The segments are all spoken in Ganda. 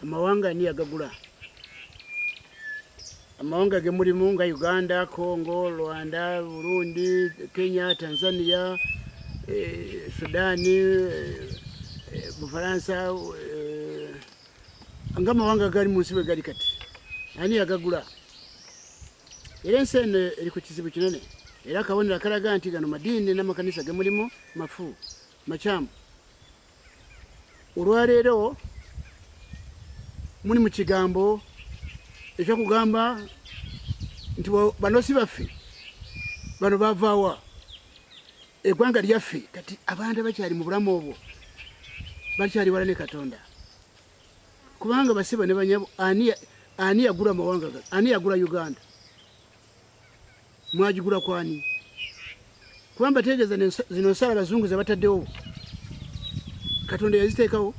Amawanga ani yagagula? Amawanga ge mulimu nga Uganda, Congo, Rwanda, Burundi, Kenya, Tanzania, eh, Sudani, eh, eh Bufaransa eh, nga amawanga gali mu nsi bwe gali kati ani yagagula? Era ensi eno eri ku kizibu kinene era akabonero akalaga nti gano madiini n'amakanisa ge mulimu mafu makyamu. olwaleero muli mu kigambo ekyokugamba nti banosi baffe bano bavaawa egwanga lyaffe kati abantu abakyali mu bulamu obwo bakyali wala ne katonda kubanga basiba ne banyabo ani yagula amawanga ani yagula uganda mwagigula kwani kuba mbategeeza zino nsala abazungu zebataddewo katonda yaziteekawo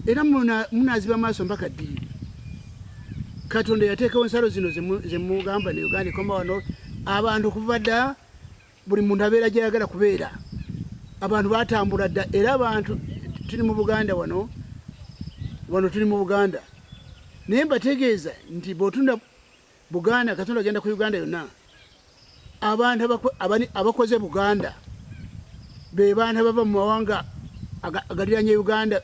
era munaziba maaso mpaka ddiri katonda yateekawo ensalo zino zemugamba ne uganda ekoma wano abantu kuva dda buli muntu abeera gyayagala kubeera abantu batambula dda era abantu tuli mu buganda wano wano tuli mu buganda naye mbategeeza nti bwotunda Buganda katonda agenda ku Uganda yonna abantu abakoze Buganda be bantu abava mu mawanga agaliranye Uganda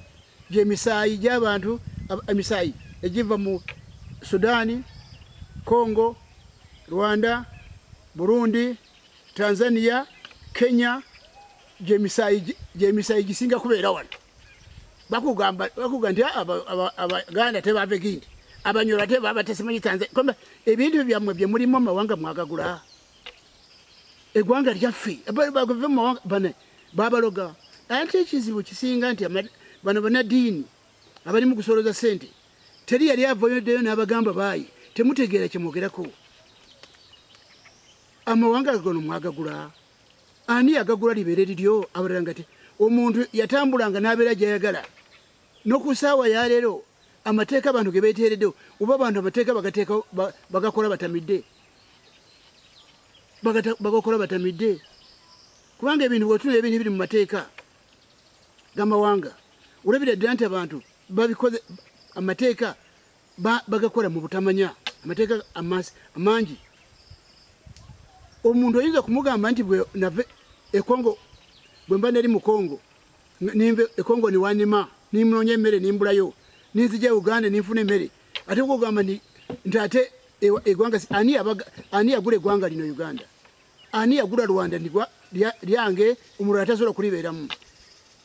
gyemisaayi gy'abantu emisaayi egiva mu Sudaani, Congo, Rwanda, Burundi, Tanzania, Kenya gyemisaayi gisinga kubeera wano. bakugamba bakugamba nti abaganda tebava egindi abanyoro ate baba tesimanyi tanzania komba ebintu byammwe bye mulimu amawanga mwagagula egwanga lyaffe bagave mu mawanga bane babaloga ate ekizibu kisinga nti bano banadiini abali mu kusoloza sente teri yali avoyoddeyo n'abagamba baayi temutegeera kyemwogerako amawanga gano mwagagula ani yagagula libeere liryo abalala ngate omuntu yatambulanga n'abeera gyayagala noku saawa yaleero amateeka abantu ge beeteereddewo oba abantu amateeka bagateeka bagakola batamidde bagakola batamidde kubanga ebintu bwetuna ebintu biri mu mateeka gamawanga olabira ddira nti abantu babikoze amateeka bagakola mu butamanya amateeka amangi omuntu oyinza kumugamba nti bwenave ekongo bwemba neri mukongo ninve ekongo niwanima nimunonya emere nimbulayo ninzija e uganda ninfuna emere ate kugamba nti nti ate egwanga ani abaga ani yagula egwanga lino uganda ani yagula rwanda ndigwa lyange omulala tasobola kulibeeramu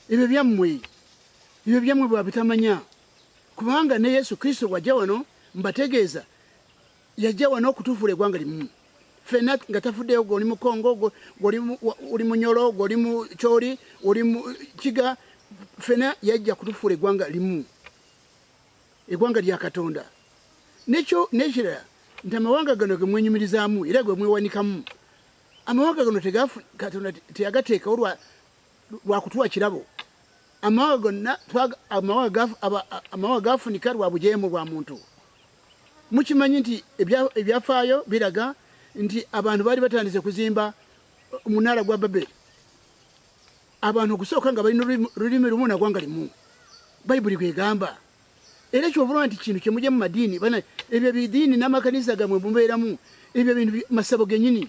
ebyo byammwe ebyo byammwe bwabitamanya kubanga ne yesu kristo bwajja wano mbategeeza yajja wano okutufuula egwanga limu fena nga tafuddeyo gwe oli mu congo gwe oli mu nyolo gwe oli mu kyoli oli mu kiga fena yajja kutufuula egwanga limu egwanga lya katonda nekyo nekirala nti amawanga gano gemwenyumirizaamu era gwe mwewanikamu amawanga gano katonda teyagateekawo lwa lwa kutuwa kirabo amawanga gonna amawanga gafunika lwa bujeemu bwa muntu mukimanyi nti ebyafaayo biraga nti abantu baali batandise kuzimba omunaala gwa babeli abantu okusooka nga balina lulimi lumu nagwanga limu bayibuli gwegamba era kyobulwa nti kintu kyemujemu madiini bana ebyo bidiini namakanisa gamwe mubeeramu ebyo bintu masabo genyini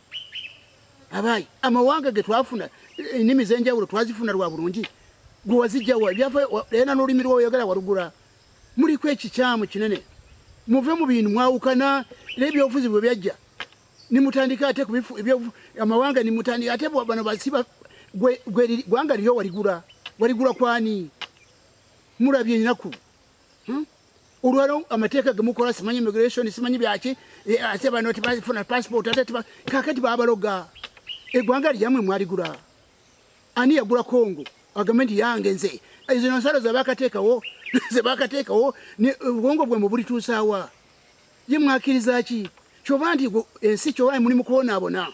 abayi amawanga ge twafuna ennimi z'enjawulo twazifuna lwa bulungi gwe wazijjawa byafayena n'olulimi lwoyagala walugula muliko ekikyamu kinene muve mu bintu mwawukana era ebyobufuzi bwe byajja nimutandika ate amawanga nimutandika ate bano basiba gwanga liryo waligula waligula kwani mulabye enaku hmm? olwalo amateeka gemukola simanyi immigration simanyi byaki e, ate bano tebafuna passport ate kakati babaloga egwanga lyamwe mwaligula ani yagula congo agambe nti yange nze zino nsalo zebakateekawo zebakateekawo obwongo bwe mubulituusaawa ye mwakiriza ki kyoba nti ensi kyoba muli mukwonaabona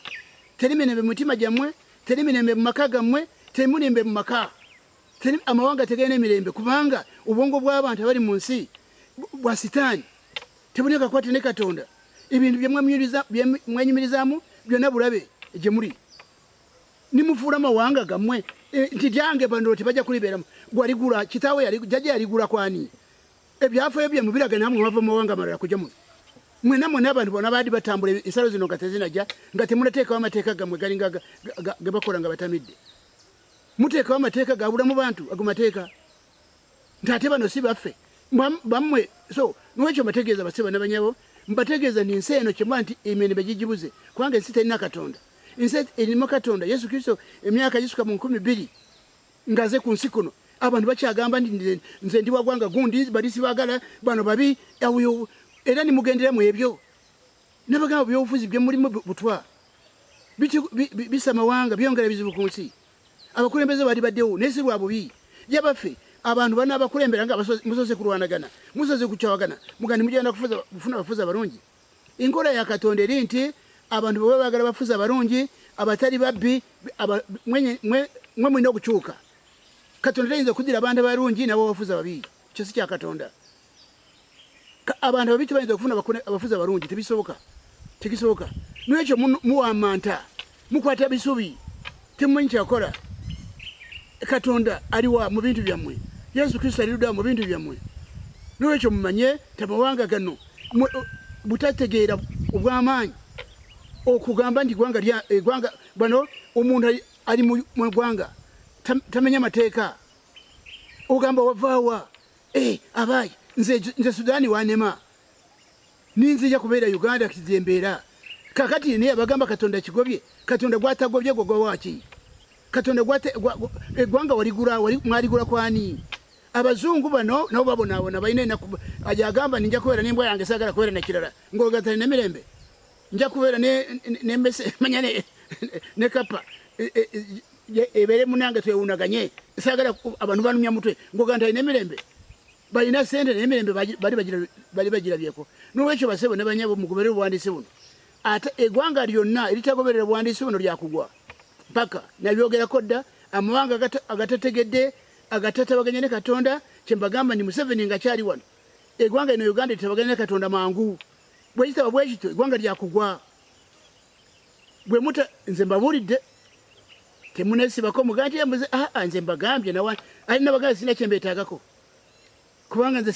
teri mirembe mumitima gyammwe teri mirembe mumaka gammwe teri murimbe mumaka amawanga tegalina emirembe kubanga obwongo bw'abantu abali mu nsi bwa sitaani tebulina kakwate ne katonda ebintu byemwenyumirizamu byonna bulabe gye muli nimufuula amawanga gammwe eh, nti gyange bano tebajja kulibeeramu gwaligula kitaawe jajja yaligula kwani ebyafayo bye mubiraga namwe mwava mumawanga amalala kuja muno mwena mwena abantu bona baadi batambula ensalo zino nga tezinaja nga temunateekawo amateeka gammwe galinga gebakola nga batamidde muteekawo amateeka gabula mu bantu ago mateeka nti ate bano si baffe bammwe so nwekyo mbategeeza basiba nabanyabo mbategeeza nti ensi eno kyemba nti emirembe gigibuze kubanga ensi terina katonda ensi erimu katonda yesu kristo emyaka gisuka mu nkumi bbiri ngaze ku nsi kuno abantu bakyagamba nti nze ndi wagwanga gundi bali sibagala bano babi era nimugendera mu ebyo nabagamba byobufuzi byemulimu butwa bisa mawanga byongera bizibu ku nsi abakulembeze bali baddewo naye si lwa bubi yabaffe abantu bana abakulembera nga musoze kulwanagana musoze kukyawagana mugandi mugenda kufuna abafuzi abalungi enkola ya katonda eri nti abantu bwe babagala bafuzi abalungi abatali babbi mwe mulina okukyuka katonda tayinza okudira abantu abalungi nabo bafuzi ababi kyo si kya katonda abantu ababi tebayinza kufuna abafuzi abalungi tebisoboka tekisoboka nwekyo muwamanta mukwata bisubi temumanyi kyakola katonda aliwa mu bintu byammwe yesu kristo aliruda mu bintu byammwe nwekyo mumanye tamawanga gano butategeera obwamaanyi okugamba nti gwanga egwanga eh, bano omuntu ali mu gwanga tamenya mateeka ogamba wavaawa Eh, abaayi nze, nze sudaani wanema ninzija kubeera uganda kigyembeera kakati naye abagamba katonda kigobye katonda gwatagobye gwe gwawaki katonda eggwanga waligula mwaligula kwani abazungu bano nabo babonaabona balina enaku ajagamba ninja kubeera nembwa yange sagala kubeera nakirala ngaogatalina mirembe nja kubeera nembese manya ne kapa e, e, e, ebeere munange twewunaganye sagala abantu banumya mutwe ngoga nti alina emirembe balina sente naye emirembe bali bagirabyeko nolwekyo basebo ne banyabo mugoberere obuwandiisi buno ate egwanga lyonna eritagoberera obuwandiisi buno lyakugwa mpaka nabyogerako dda amawanga agatategedde agatatabaganya ne katonda kyembagamba ni museveni nga kyali wano egwanga ino uganda etabaganya ne katonda mangu bwekitaba bwekityo egwanga lyakugwa bwemuta nze mbabulidde temunesibako mugaa nti embuze aa ah, ah, nze mbagambye nawa ali nabagala sina kyembetagako kubanga nze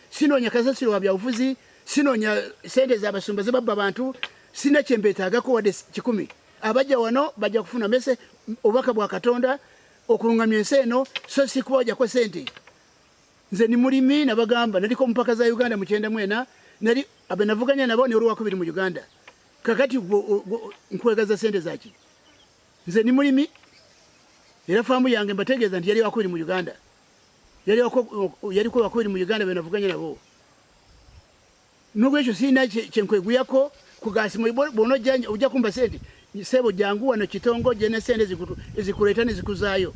sinonya kasasiro wa byabufuzi sinonya sente zabasumba zebabba bantu sina kyembetagako wadde kikumi abajja wano bajja kufuna mese obubaka bwa katonda okulungamya ensi eno so sikuba wajako sente nze ni mulimi nabagamba naliko mpaka za uganda mukyenda mwena nali abenavuganya nabo ni olwakubiri mu uganda kakati nkwegaza sente zaki nze ni mulimi era faamu yange mbategeeza nti yali wakubiri mu uganda yaliko wakubiri mu uganda benavuganya nabo Nolwekyo sirina kyenkweguyako kugasimo bwona ojjanja ojja kumba sente sebo jangu wano kitongo jene sente zikutu ezikuleeta ne zikuzaayo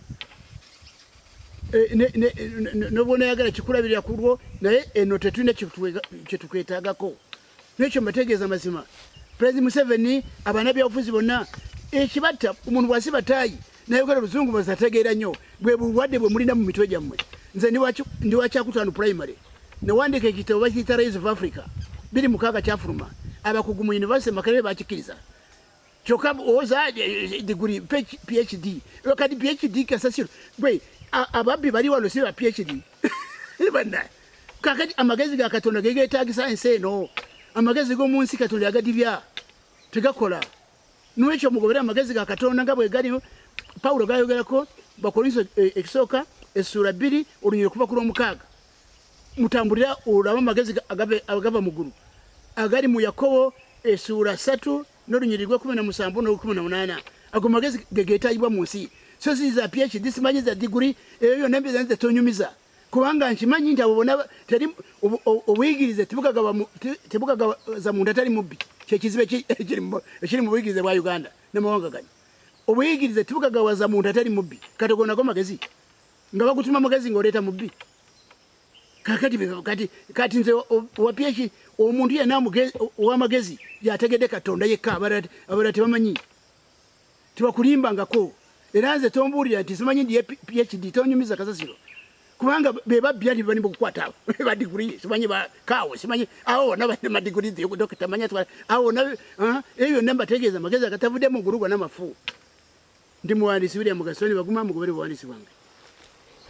eh, ne ne nobwona yagala kikulabirira kulwo naye eno tetulina kyetukwetagako nekyo mbategeeza mazima president museveni abana byabufuzi bonna ekibatta omuntu bwasiba taayi naye ogala oluzungu bazategeera nnyo bwe bulwadde bwe mulina mu mitwe gyammwe nze ndi wa kyakutaano primary newandiika ekitabo bakiyita rais of africa biri mukaaga kyafuluma abakugu mu univesity makerere bakikkiriza kyokka owoza diguli phd kati phd kasasiro gwe ababbi bali wano si ba phd banna kakati amagezi ga katonda gegeetagisa ensi eno amagezi g'omu nsi katonda yagadibya tegakola N'olwekyo mugobere amagezi ga Katonda nga bwe gali Pawulo gaayogerako Bakolinso e, ekisooka essuula bbiri olunyiri okuva ku lw'omukaaga. Mutambulira olaba amagezi agava mu ggulu agali mu Yakobo essuula ssatu n'olunyiri lw'ekkumi na musanvu n'olukumi na munaana. Ago magezi ge geetaagibwa mu nsi. So ziza PhD simanyiza diguli eyo yonna mbiza nze tonyumiza. kubanga nkimanyi nti abo bona teri obuyigirize tebugagaza muntu atali mubbi kyekizibu ekiri mu buyigirize bwa uganda namawanga gani obuyigirize tebugagawaza muntu atali mubbi kati ogonako magezi nga bagutuma magezi ngaoleeta mubbi kati nze wapyeki omuntu yena owamagezi yategede katonda yekka abala tebamanyi tebakulimbangako era nze tombuulira nti simanyi ndiye phd tonyumiza kasasiro kubanga bebabbi ali bani mukukwata abo badiguri simanyi bakawo simanyi awo bona balina madiguri dokita manya twala awo bona eh, ebyo byonna mbategeeza amagezi agatavudde mu ggulu gona mafu ndi muwandiisi william gasoni baguma mugobere buwandiisi bwange